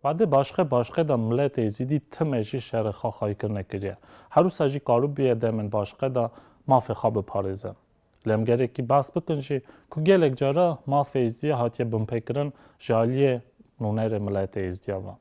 Badê başqe başqe da milletê Êzîdî time jî şerê xwe xayîrkirine kiriye. Herûsa jî karûbûye demên başqe da mafê xwe biparêze. Lemgerekî behs bikin jî ku gelek cara mafê Êzdiyê hatiye binpêkirin ji aliyê nûnerê miletê Êzdiya ve.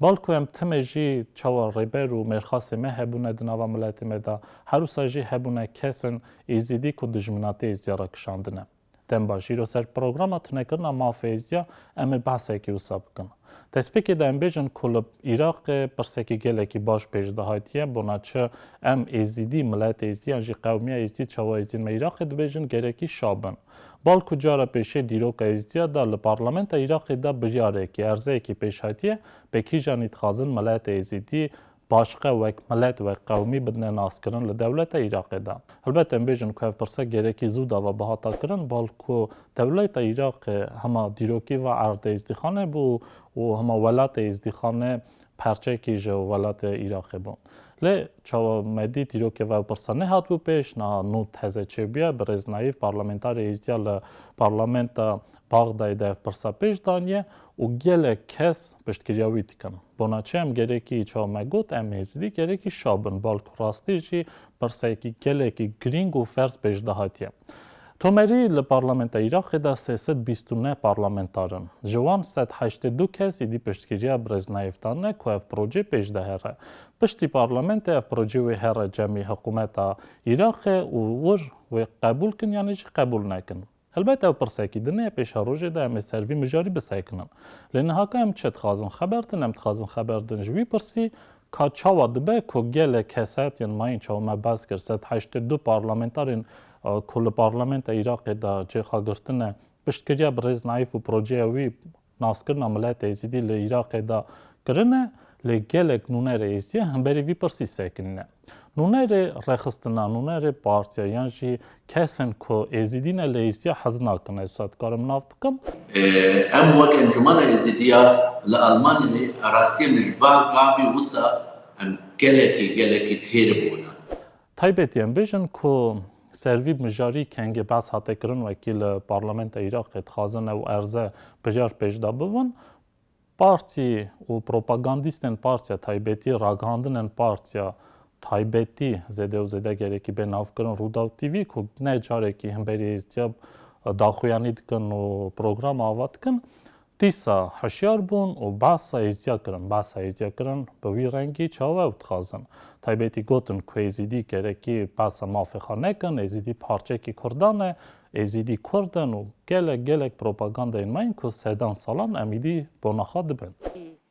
Bal ku em timê jî çawa rêber û mêrxasê me hebûne di nava miletê me de, herwisa jî hebûne kesin Êzidî ku dijminatî Êzdiya re kişandine. Dem ba jî îro ser programa tunekirina mafê Êzdiya em ê behsekî wisa bikin. Destpêkê de em bêjin ku li Iraqê pirsekî gelekî baş pêş dihatiye, bona çi em Êzidî, miletê Êzidî yan jî qewmiya Êzidî, çawa Êzidîn me Iraqê dibêjin gerekî şa bin. Balku cara pêşê dîroka Êzidîya de li parlementa Iraqê de biryarekî, erzeyekî pêş hatiye, be kîjan î dixwazin miletê Êzidî Başiqe wek milet, wek qewmî bidine naskirin li dewleta Iraqê de. Helbet em bêjin ku ev pirsek gêrekî zû dava bihata kirin, bal ku dewleta Iraqê hema dîrokî va erdê Îzdîxanê bû û hema welatê Îzdîxanê perçekî ji welatê Iraqê bû. Lê çawa me dît dîrokê va ew pirsa nehatbû pêş, niha nû teze çêbûye, birêz Naîf parlamentarê Êzdîya li parlamenta Baxdayê de ev pirsa pêş daniye û gelek kes piştgiriya wî dikin. Bona çi em gerekî çawa me got em êzidî gerekî şa bin balku rastî jî pirseyekî gelekî girîng û ferz bejna hatiye. Tomerî li parlamenta Îraqê de sê sed bîst û neh parlamentar in. Ji wan sed heştê du kes êdî piştgiriya Birêz Naif dan ne ku ev projê pêş de here. Piştî parlamentê ev projê wê here cemî hikumeta Îraqê û wir wê qebûl kin yanî jî qebûl nekin. Helbet ev pirsekî din e, pêşa rojê de em ê ser vî mijarî bisekinin. Lê niha ka em çi dixwazin xeber din, em dixwazin xeber din ji wî pirsî, ka çawa dibe ku gelek keset yên mayîn çawa me behs kir sed heştê du parlamentarên ku li parlamenta Iraqê de cêxagirtine piştgiriya birêz Naîf û projeya wî Naskirina miletê êzidî li Iraqê de kirin e, lê gelek nûnerê êzidî hemberî vî pirsî sekinî ne. Nûnerê rexistina, nûnerê partiya yan jî kesên ku êzidî ne li êzidîya hez nakin ez wisa dikarim nav bikim. Em wek encûmena êzidî ya li Elmanyayê rastiyê min ji van gavî wisa em gelekî gelekî têr bûne. Taybet yên bêjin ku servî bi mijarî kengê behs hate kirin wekî li parlamenta Îraqê dixwazin ew erze biryar pêşda bibin, partî û propagandîstên partiya taybetî ragihandinên partiya taybetî zêde û zêde gerekî bê navkirin Rûdaw TV ku ne carekî himberî hêztîya daxuyanî dikin û programa ava dikin Dîsa hişyar bûn û behsa Êzidîya kirin. Behsa Êzidîya kirin bi wî rengî çawa ew dixwazin. Taybetî gotin ku Êzidî gerekî behsa mafê xwe nekin, Êzidî parçeyekî Kurdan e, Êzidî Kurd in û gelek gelek propagandeyên me yên ku sedan salan em îdî bona xwe dibin.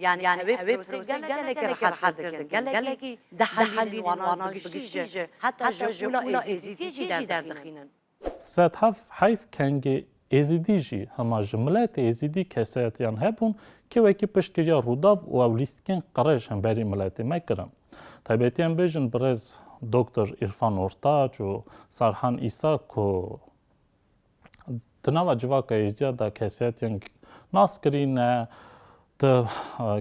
Yani ev ê proseyê gelekî rehet dikin, gelekî dihelînin wana bi giştî jî heta ji qûla êzîdî jî derdixînin. Sedhaf heyf kengê êzîdî jî hema ji miletê êzîdî kesayetiyan hebûn ke wekî piştgiriya Rûdaw û ew lîstikên qirêj hemberî miletê me kirin. Taybetî em bêjin birêz Doktor Îrfan Ortaç û Sarhan Îsa ku, Di nava civaka êzdiya de kesiyetên nas kirîne, di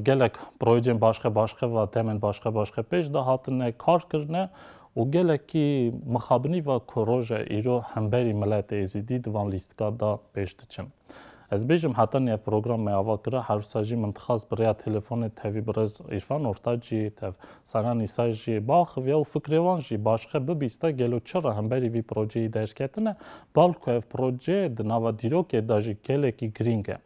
gelek projeyên başxe başxe ve demên başxe başxe pêş de hatine kar kirine û gelekî mixabinî ve ku roja îro hemberî miletê êzidî di van lîstika de pêş diçin. Ez bêjim heta nî ev program me ava kira, herwisa jî min dixwest bi rêya telefonê tevî birêz Îrfan Ortacî tev Saran Îsay jî biaxiviya û fikrê wan jî başixe bibîste gelo çi re hemberî vî projeyî derketine, bal ku ev proje di nava dîrokê de jî gelekî girîng e.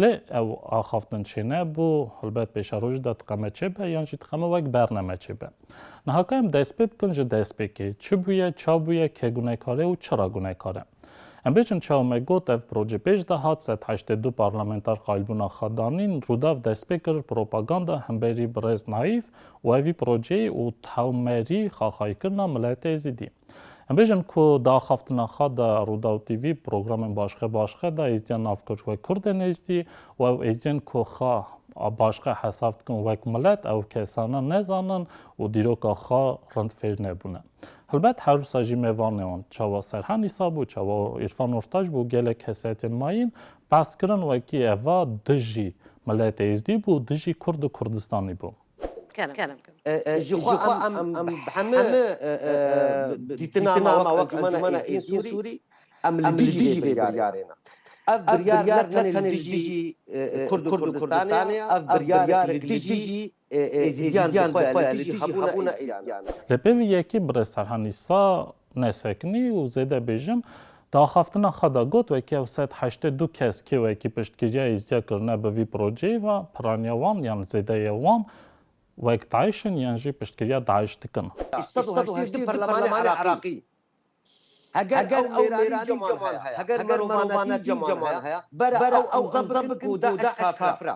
Lê ew axaftin çênebû, helbet pêşerojî de tiqeme çêbe yan jî tiqeme wek berneme çêbe. Niha ka em dest pê bikin ji destpêkê, çi bûye, ça bûye, ke gunekar e û çi re gunekar e? Em bêjin çawa me got ev proje pêş de hat, sed heştê du parlamenter qailbûna xwe danîn, Rûdaw dest pê kir propaganda hemberî birêz Naîf û ev vî projeyê û tewmerî xaxayîkirina miletê zîdî. Em bêjin ku di axaftina xwe de Rûdaw TV programên başqe başqe de êzdîya nav kir wek kurdên êzdî û ew êzdiyên ku xwe başqe hesab dikin wek milet ew kesana nezanin û dîroka xwe rind fêr nebûne. Helbet her wisa jî me vanê wan. Çawa Serhan Îsa bû, çawa Îrfan Ortac bû, gelek kesayetên ma yên behs kirin wekî eva dijî miletê Êzdî bû, dijî Kurd û Kurdistanî bû. Ji xwe em heme dîtina me wek Encûmena Êzdîyên Sûrî em li dijî vê biryarê ne. Ev biryar ne tenê li dijî Kurd û Kurdistanê ye, ev biryarek li dijî Êzidiyan bi xwe ya li dijî hebûna Êzidiyan e. Lê pêvî yekî bi rêz Serhennî sa nesekinî û zêde bêjim, di axaftina xwe de got, wekî ew sed heştê du kes kê wekî piştgiriya Êzidîya kirine bi vî projeyê ve, piraniya wan yan zêdeyê wan wek DAIŞ in yan jî piştgiriya DAIŞ dikin. Sed û heştê du perlemanê Iraqî heger ew mêranî Cemal heye, heger merovanetî Cemal heye, bere ew emza bikin ku DAIŞ kafir e.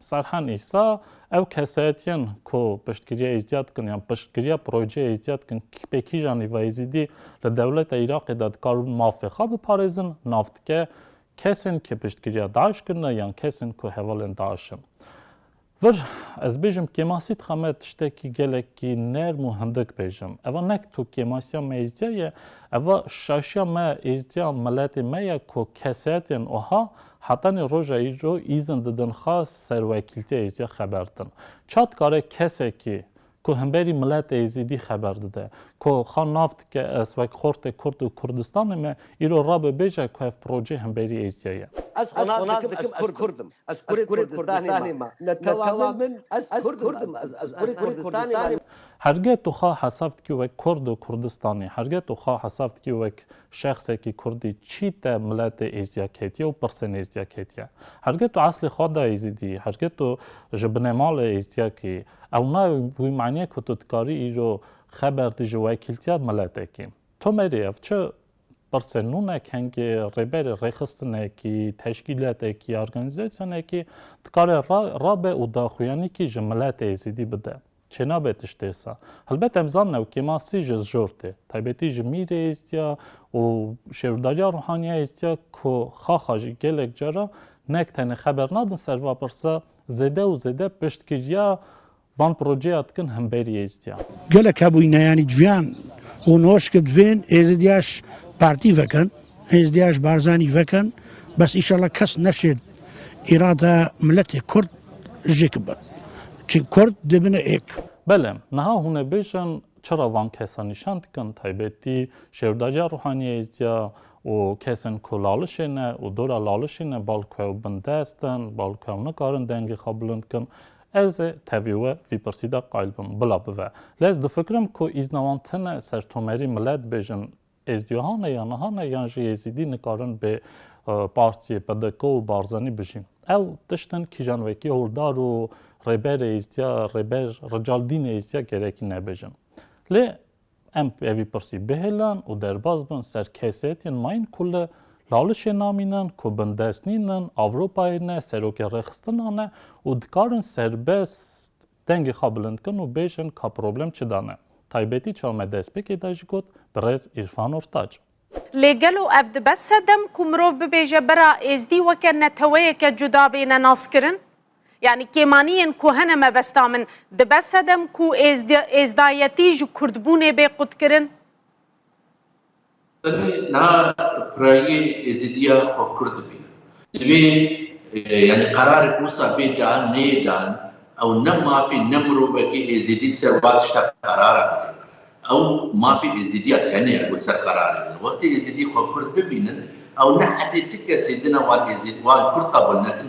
Serhan Îsa, Ev kesayetiyên ku piştgiriya Êzidiya dikin yan piştgiriya projeyê Êzidiya dikin pê kîjan lîva Êzidî li dewleta Îraqê de dikarin mafê xwe biparêzin nav dike kesên ku piştgiriya DAIŞ kirine yan kesên ku hevalên DAIŞ in. Vir ez bêjim kêmasî dixe me tiştekî gelekî nerm û hindik bêjim. Eva nek tu kêmasiya me Êzidiya ye, eva şaşiya me Êzidiya miletê me ye ku kesayetên uha Hetanî roja îro îzin didin xwe ser wekîltiya êzîdî xeber din. Ça dikare kesekî ku himberî miletê êzîdî xeber dide, ku xwe nav dike ez wek xortê kurd û Kurdistanê me, îro rabe bêje ku ev projê himberî êzîdî ye. Ez xwe nav dikim ez kurd im. Ez kurê Kurdistanê me. Li tewamê min ez kurd im. Ez kurê Kurdistanê me. Herge tu xwe hesab dikî wek kurd û Kurdistanê? Herge tu xwe hesab dikî wek Şexsekî kurdî çî te miletê êzdiya ketiye û pirsên êzdiya ketiye. Hergê tu eslê xwe da êzidî, hergê tu ji binêmalê êzdiya kî, ew nayê wî maniyê ku tu dikarî îro xeber dî ji wekîltiya miletekî. Tomerî ev çi pirsên nû ne kengê rêberê rêxistinekî, teşkîletekî ya organîzasyonekî dikare rabe û daxuyanîkî ji miletê êzidî bide. Çênabe tişt êsa. Helbet em zanin ew kêma sî ji zjor tê. Taybetî ji mîrê êstiya û şêwrdariya ruhaniya êstiya ku xaxa jî gelek cara nek tenê xeber nadin ser va pirsa zêde û zêde piştgiriya van projeya dikin himberî êstiya. Gelek hebûyne yanî civiyan û noşke divên êzdiya ji partî vekin, êzdiya ji Barzanî vekin bes îşallah kes neşêd. Îrada miletê kurd jêkib be. Çi kurd dibine êk. Bele, niha hûn ê bêjin çira van kesan nîşan dikin, taybetî şêwdariya ruhaniya êzdiya û kesên ku lalişê ne û dora lalişî ne balku ew bin dest in, balku ew nikarin dengê xwe bilind kin. Ez ê tevî we vî pirsî de qayl bim, bila bive. Lê ez difikirim ku îzna wan tine ser tomerî milet bêjin Êzdiyohan e ya nihan e yan jî Êzîdî nikarin bê partiyê PDK û Barzanî bijîn. Ew tiştin kîjan wekî hordar û rêberê Êzdiya rêber rical dînê Êzdiya gerekî nebêjin. Lê em evî pirsî bihêlin û derbaz bin ser kesêtiyên mayîn ku li Lalişê namînin, ku bindest nînin, Ewropayê ne, serokê rêxistina ne û dikarin serbest Dengê xwe bilind kin û bêjin ka problem çida ne. Taybetî çawa me destpêkê de jî got Birêz Îrfan Ortaç. Lê gelo ev dibe sedem ku mirov bibêje bera Êzdî weke neteweyeke cuda bêne naskirin? Yanî kêmaniyên ku hene mebesta min, dibe sedem ku êzdayetî ji kurdbûnê bê qutkirin? Em ê niha pirayîyê Êzîdîya xwe kur dibînin. Divê yanî qerarê Mûsa bê dan neyê dan, ew ne mafê ne mirovekî Êzîdî li ser wa tişta qerara bide. Ew mafê Êzîdîya tenê ya ku li ser qerarê bide. Wextê Êzîdî xwe kurd bibînin, ew ne hedê ti kesê din e wan Êzîd wan kurd qebûl nekin,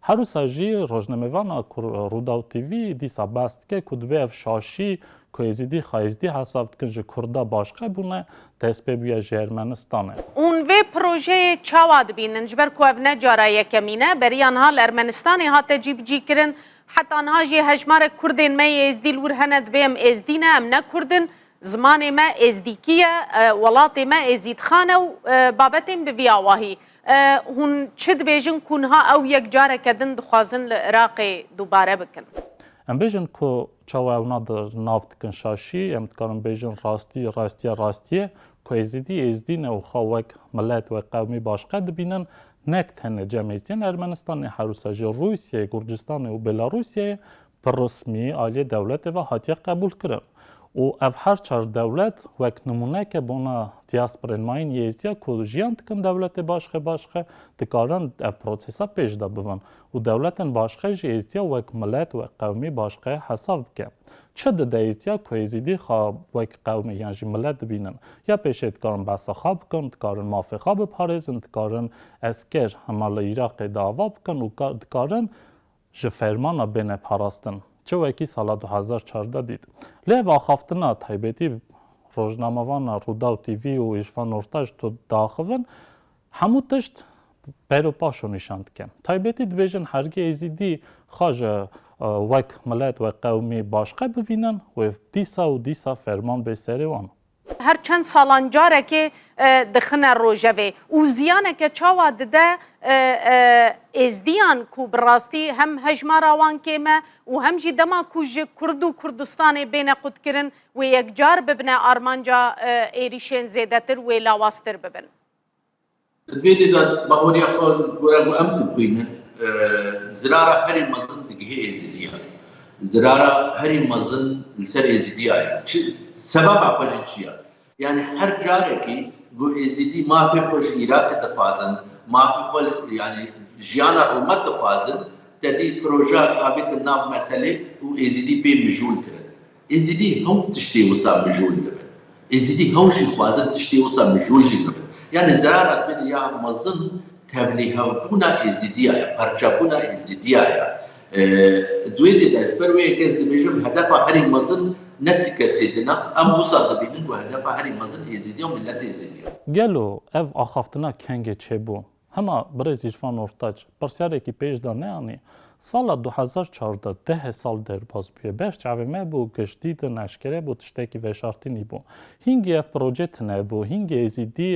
Her wisa jî rojnamevana ku Rûdaw TV dîsa behs dike ku divê ev şaşî ku Êzîdî Xayîzdî hesaf dikin ji Kurda başqe bûne, destpê bûye ji Ermenistanê. Hûn vê projeyê çawa dibînin? Ji ber ku ev ne cara yekemîn e, beriya niha li Ermenistanê hate cîbicîkirin. Heta niha jî hejmarek Kurdên me yê Êzidî li wir hene. Divê em Êzidî ne, em ne Kurd in. Zimanê me Êzidîkî ye, welatê me Êzîdxan e û babetên bi vî awahî. Hûn çi dibêjin ku niha ew yek careke din dixwazin li Iraqê dubare bikin? Em bêjin ku çawa ew na di nav dikin şaşî, em dikarin bêjin rastî, rastiya rastî ye ku Êzidî, Êzidî ne û xwe wek milet, wek qewmî başqe dibînin, nek tenê cem Êzidîyan Ermenistanê, herwisa jî Rûsyayê, Gurcistanê û Belarusyayê bi resmî aliyê dewletê ve hatiye qebûlkirin û ev her çar dewlet wek nimûneke bona diasporên ma yên Yêzdîya ku jiyan dikin dewletê Başxê Başxe dikarin ev prosesa pêş de bibin û dewletên Başxe ji Êzdîya wek milet, wek qewmî Başxe hesab bike. Çi dide Êzdîya ku Êzîdî xwe wek qewmî yan jî milet dibînin? Ya pêşê dikarin behsa xwe bikin, dikarin mafê xwe biparêzin, dikarin esker hema li Iraqê dava bikin û dikarin ji fermana bêne parastin çi wekî sala du hezar û çardeh dît. Lê ev axaftina taybetî rojnamevana Rûdaw TV û Îrfan Nurtaş ji to diaxivin hemû tişt per û paşo nîşan dike. Taybetî dibêjin hergî Êzîdî xwe ji wek milet, wek qewmî başqe bivînin wê dîsa û dîsa ferman bê serê wan. Her çend salan carekê dixine rojevê û ziyaneke çawa dide Êzdiyan ku bi rastî hem hejmara wan kêm e û hem jî dema ku ji Kurd û Kurdistanê bêne qutkirin wê yekcar bibine armanca êrîşên zêdetir wê lawaztir bibin. Di vê dê de bahoriya xwe gore ku em dixwînin, zirara herî mezin digihê êzidiyan. Zirara herî mezin li ser êzidiya ye. Çi sebeba xwe jî çi ye? Yanî her carekî ku êzidî mafê xwe ji Îraqê dixwazin, mafê xwe yanî jiyana rûmet dixwazin, tedî projeya ku avêtin nav meselê û êzidî pê mijûl kirin. Êzidî hew tiştê wisa mijûl dibin. Êzidî hew jî xwazin tiştê wisa mijûl jî bibin. Yanî zerara divê di ya mezin tevlîhevbûna Êzidîya ye, parçebûna Êzidîya ye. Di wê dê de ji ber wê yekê ez dibêjim hedefa herî mezin ne ti kesê din e. Em wisa dibînin ku hedefa herî mezin Êzidî û miletê Êzidî ye. Gelo ev axaftina kengê çêbû? Hema birêz Îrfan Ortaç pirsyarekî pêş de neanî, Sala du hezar û çardeh deh sal derbas bûye, beş çavê me bû, giştî din eşkere bû tiştekî veşartinî bû. Hîngî ev proje tune bû, hîngî êzîdî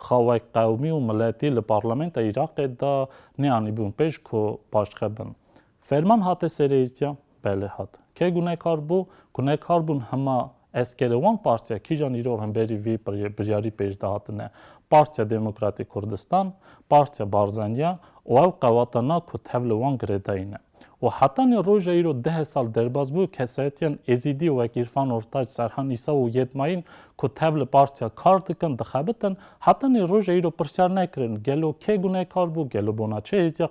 xawek qewmî û miletî li parlamenta Îraqê de neanîbûn pêş ku paşxe bin. Ferman hate sereyîtiya? Belê hat. Ke gunekar bû? Gunekar bûn hema eskerê wan partiya kîjan îro hemberî vî biryarî pêş de hatine? Partiya Demokratê Kurdistan, Partiya Barzaniya û ew qewata na ku tev li wan girêdayîne. Û heta nê roja îro deh sal derbas bû kesayetiyan Êzîdî wek Îrfan Ortaç, Serhan Îsa û Yedmayîn ku tev li partiya kar dikin, dixebitin. Heta nê roja îro pirsyar nekirin gelo ke gunekar bû, gelo bona çi hêtiya?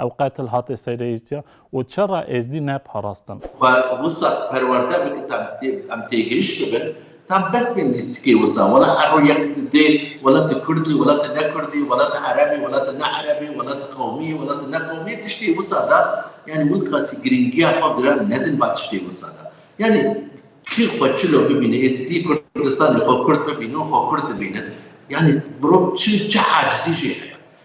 Ev qetil hate sereyîstiya û çera êzdî ne parastin. Xwe wisa perwerde bike ta em têgihîş bibin, ta bes bên lîstikê wisa, wela her ro yek dê welate kurdî, welate ne kurdî, welate erebî, welate ne erebî, welate qewmî, welate ne qewmî, tiştê wisa da, yanî wî qasî girîngiya xwe giran nedin ba tiştê wisa da. Yanî kî xwe çilo bibîne, êzidî Kurdistanê xwe kurd bibîne û xwe kurd dibîne, yanî mirov çi çi acizî jê heye.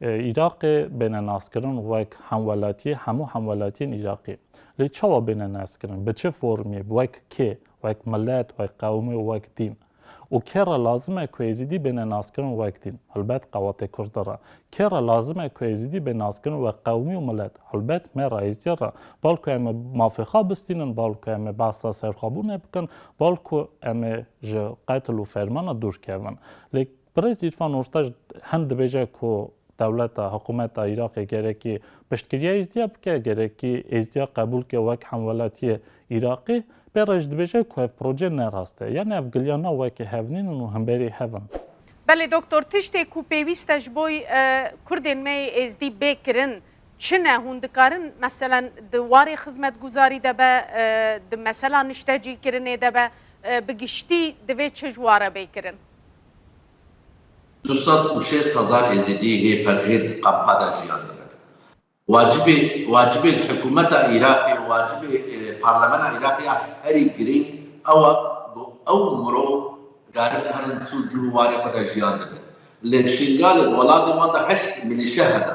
Îraqê bêne naskirin wek hemwelatiyê hemû hemwelatiyên Îraqê. Lê çawa bêne naskirin? Bi çi formê? Wek kê? Wek milet, wek qewim û wek dîn. Û kê re lazim e ku Êzîdî bêne naskirin wek dîn? Helbet qewatê Kurd re. Kê re lazim e ku Êzîdî bê naskirin wek qewimî û milet? Helbet me re, Êzîdiyê re. Bal ku em ê mafê xwe bistînin, bal ku em ê behsa serxwebûnê bikin, bal ku em ê ji qetil û fermana dûr kevin. Lê Birêz Îrfan Ortac hem dibêje ku dewleta, hikumeta Îraqê gerekî piştgiriya Êzdiya bike, gerekî Êzdiya qebûl bike wek hemwelatiyê Îraqê. Bê rêj dibêje ku ev proje ne rast e. Yani ev giliyana wekî hev nîn in û himberî hev in. Belê Doktor, tiştê ku pêwîst e ji bo Kurdên me yê Êzdî bê kirin çi ne? Hûn dikarin meselen di warê xizmetguzarî de be, di mesela niştecîkirinê de be, bi giştî divê çi ji ware bê kirin? Du sed û şêst hezar Êzidî hê Ped-Hêd kampa de jiyan dikin. Wacibê wacibên hikûmeta Iraqê û wacibê parlemena Iraqê ya herî girîng ew e ku ew mirov dikaribin herin sûc cû û warê xwe de jiyan dibin. Li Şingalê di welatê wan de heşt milîşe hene.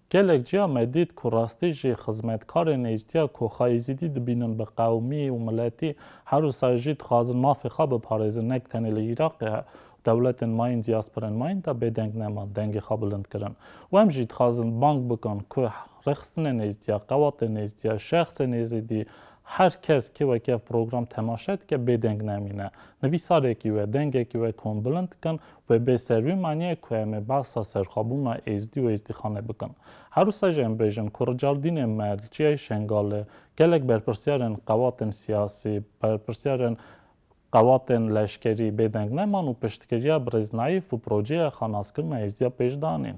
Gelek cîya me dît ku rastî jî xizmetkarên êzdiya ku xwe êzidî dibînin bi qewmî û miletî her û sar jî dixwazin mafê xwe biparêzin ne tenê li Îraqê û dewletên mayîn dîyasporên mayîn de bêdeng neman dengê xwe bilind kirin û em jî dixwazin bang bikin ku rêxistinên êzdiya, qewatên êzdiya, şexsên êzidî her kes kê wekî ev program temaşe dike bêdeng nemîne nivîsarekî we, dengekî we kombilind bikin Wê bê ser wî maniyê ku em ê behsa serxwebûna Êzdî û Êzdîxanê bikin. Her wisa jî em bêjin ku Ricardînê me li Çiyayê Şengalê gelek berpirsyarên qewatên siyasî, berpirsyarên qewatên leşkerî bêdeng neman û piştgiriya Birêz Naîf û projeya xanaskirina Êzdî ya pêş danîn.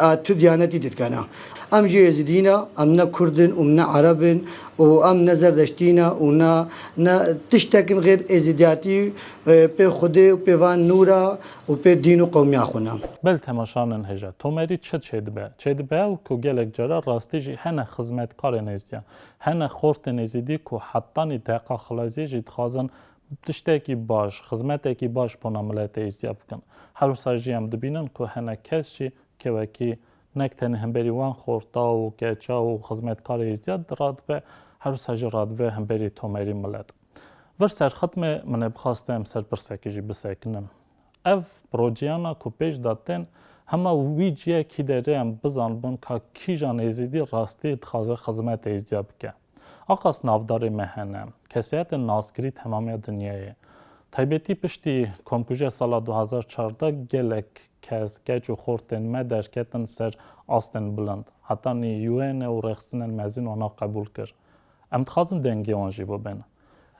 A tu diyanetî didkena. Em jî êzidî ne, em ne kurd in û ne ereb in û em ne zerdeştî ne û ne ne tiştek in xêr êzidiyatî pê xwedê û pê van nûra û pê dîn û qewmiya xwe ne. Bil temaşa nin hije. Tomerî çi çêdibe? Çêdibe ew ku gelek caran rastî jî hene xizmetkarên êzidiyan, hene xortên êzidî ku hetanî deqa xilaziyê jî dixwazin Tiştekî baş, xizmetekî baş bona miletê îstîya bikin. Herwisa jî em dibînin ku hinek kes jî kevekî nek tenê hemberî wan xorta û keça û xizmetkarê îstîya radibe, herwisa jî radibe hemberî tomerî milet. Vir serxitmê min ê bixaste em ser pirsekê jî bisekinin. Ev projeyana ku pêş de tên hema wî ciyê kî de rê em bizanbin ka kîjan Êzidî rastî dixwaze xizmet Êzidiya bike. Aqas navdarê me hene, kesayetên naskirî temamiya dinyayê. Taybetî piştî Komkujiya sala du hezar û çardeh gelek kes, keç û xortên me derketin ser astên bilind. Heta nî UN û rexistinên mezin wana qebûl kir. Em dixwazin dengê wan jî bibêne.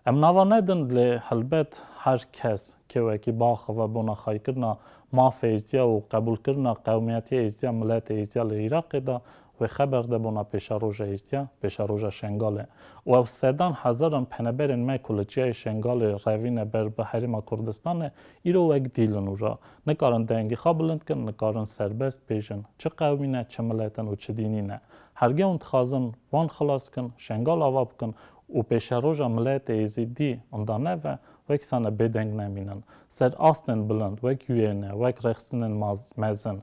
Em nava nedin lê helbet her kes ke wekî biaxive bona xaykirina mafê Êzdiya û qebûlkirina qewmiyetiya Êzdiya, miletê Êzdiya li Iraqê de wê xeber de bona pêşeroja Êzdiya, pêşeroja Şengalê û ew sedan hezaran peneberên me ku li çiyayê Şengalê revîne ber bi Herêma Kurdistanê îro wek dîlin û re nikarin dengê xwe bilind kin, nikarin serbest bêjin çi qewmî ne, çi milet in û çi dînî ne. Hergewn dixwazin wan xilas kin, Şengal ava bikin û pêşeroja miletê Êzîdî inda neve, wek sane bêdeng nemînin. Ser astên bilind, wek Yuêne, wek rexstinên mezin,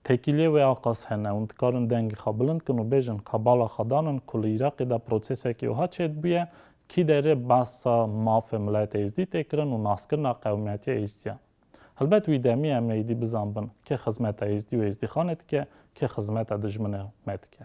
têkiliyê wê a qas hene û dikarin dengê xwe bilind kin û bêjin ka bala xwe danin ku li Îraqê de prosesekî wiha çêdibûye, kî derê behsa mafê miletê Êzîdî tê kirin û naskirina qewmiyetîya Êzîdiyan. Helbet wî demî em êdî bizanbin kê xizmeta Êzîdî û Êzîdîxanê dike, kê xizmeta dijminê me dike.